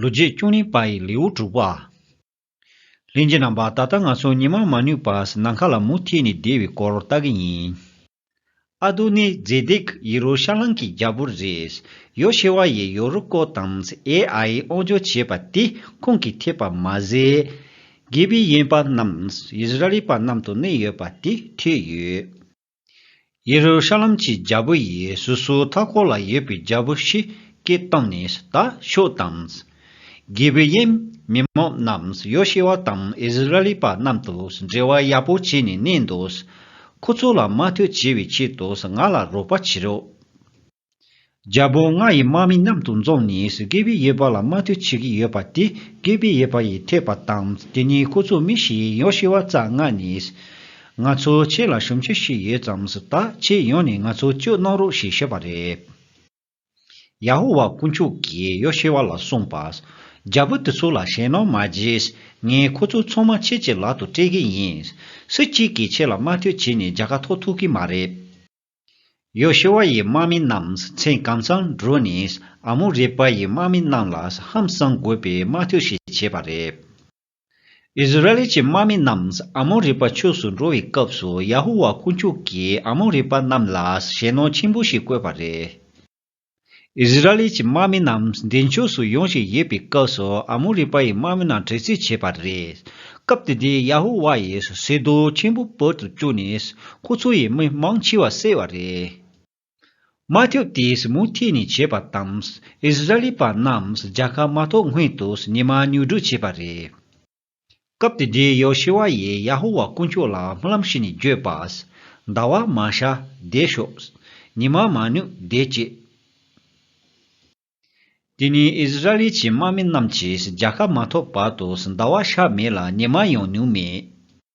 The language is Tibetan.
ལོ་རྗེས་བཅུ་གཉིས་པ་ཡི་ལེའུ་དྲུག་པ། ལྷན་སྐྱེས་རྣམ་པ་ད་ལྟ་ང་ཚོ་ཉི་མ་མ་ནུས་པར་ནམ་མཁའ་ལ་མུ་མཐུད་ནས་བསྡད་པའི་སྐོར་ལྟ་གི་ཡིན། ཨ་རྡོ་ནི་རྫས་འདེགས་ཡི་རོ་ཤ་ལང་གི་རྒྱལ་པོ་རེད། ཡོ་ཤེ་བྷ་ཡིས་ཡོ་རུ་ཀོ་དང་ཨེ་ཨའི་དབང་འབྱོར་བྱས་པ་དེ་ཁོང་གིས་ཐེག་པ་མ་ཟད། གྷེ་བི་ཡན་པ་རྣམས་ཡེས་ར་ཨེལ་པ་རྣམས་དང་གནས་ཡོད་པ་དེ་ཐོས་ཡོད། ཡེ་རུ་ཤ་ལམ་གྱི་རྒྱལ་པོ་ཡི་སོ་སོའི་མཐའ་སྐོར་ལ་ཡོད་པའི་རྒྱལ་པོ་ཧྲི་ཀའི་སྟེང་ནས་ད་ཤོད་དང། གྱི་བི་ཡེམ་མི་མང་རྣམས་ཡོ་ཤེ་བྷ་དང་ཨིསི་རཱཨེལི་པ་རྣམས་དུ་འབྲེལ་བ་ཡག་པོ་བྱས་ནས་གནས་འདུག། ཁོ་ཚོ་ལ་མ་ཐོས་བྱས་པའི་ཆེད་དུ་ང་ལ་རོགས་པ་བྱེད་རོགས། རྒྱལ་པོ་ང་ཡི་དམག་མི་མཉམ་དུ་འཛོམས་ནས་སུ་སྐད་པའི་ཡུལ་བ་ལ་དམའ་འཐུས་བྱེད་ཀྱི་ཡོད་པ་དེ་སྐད་པའི་ཡུལ་བ་ཡིས་ཐོས་པ་དང་དེ་ནས་ཁོ་ཚོ་མི་ཞིག་ཡོང་ཤི་བ་རྩ་སྔགས་ནས། ང་ཚོ་ཁྱེད་ལ་ཞུམ་ཆུ་ཞིག་ཡོད་ཙམ་ཟིག་ད་ཁྱེད་ཡོང་ནས་ང་ཚོ་བཅོས་གནང་རོགས་ཞེས་ཞུས་པ་རེད། ཡ་ཧོ་ཝཱ་དཀོན་མཆོག་གིས་ཡོ་ཤི་བ་ལ་གསུངས་པ། རྒྱལ་པོ་དེ་ཚོ་ལ་ཞེད་སྣང་མ་བགྱིས། ངས་ཁོ་ཚོ་ཚང་མ་ཁྱེད་ཀྱི་ལག་ཏུ་སྤྲད་ཀྱི་ཡིན། སུ་གཅིག་གིས་ཁྱེད་ལ་དམའ་འཐུས་བྱས་ནས་རྒྱལ་ཁ་ཐོག་ཐུག་གི་མ་རེད། ཡོ་ཤུ་བ་ཡི་དམག་མི་རྣམས་མཚན་གང་ཙམ་བསྒྲུབས་ནས་ཨ་མོ་རེ་པཱ་ཡི་དམག་མི་རྣམས་ལ་ཧམ་བསམ་དགོས་པའི་དམག་འཐུས་ཤིག་བྱས་པ་རེད། ཨིསི་རཱཨེལ་གྱི་དམག་མི་རྣམས་ཨ་མོ་རེ་པཱ་ཕྱོགས་སུ་འགྲོ་བའི་སྐབས་སུ་ཡ་ཧུ་བ་དཀོན་མཆོག་གིས་ཨ་མོ་རེ་པཱ་རྣམས་ལ་ཞེད་སྣང་ཆེན་པོ་ཞིག་བསྐོས་པ་རེད། ཨིས་ར་ཨེལ་གྱི་དམག་མི་རྣམས་འདི་ཕྱོགས་སུ་ཡོང་བཞིན་ཡོད་པའི་སྐབས་སུ་ཨ་མོ་རི་པ་ཡི་དམག་མི་རྣམས་དྲེགས་རྩིས་བྱས་པ་རེད། སྐབས་དེ་དུས་ཡ་ཧུ་བྷ་ཡིས་ཟེ་དོ་ཆེན་པོ་བོད་དུ་བཅུག་ནས་ཁོ་ཚོ་ཡི་མི་མང་འཆི་བ་བསད་བ་རེད། དམག་འཐབ་དེས་མུ་མཐུད་ནས་བྱས་པ་དང་ཨིས་ར་ཨེལ་པ་རྣམས་རྒྱལ་ཁ་མ་ཐོབ་སྔོན་དུ་ཉི་མ་ཉུག་སྒྲུག་བྱས་པ་རེད། སྐབས་དེ་དུས་ཡོ་ཤེ་བྷ་ཡིས་ཡ་ཧོ་ཝཱ་དཀོན་མཆོག་ལ་སྨོན་ལམ་ཞུས་ནས་བརྗོད་པ། ཟླ་བ་མ་ཤར་བདེ་ཤོག། ཉི་མ་མ་ནུབ་བདེ་སྐྱིད། དེ་ནི་ཨིསི་རཱཨེལ་གྱི་དམག་མི་རྣམས་ཀྱིས་རྒྱལ་ཁ་མ་ཐོབ་བར་དུ་ཟླ་བ་ཤར་མེད་ལ་ཉི་མ་ཡང་ནུབ་མེད།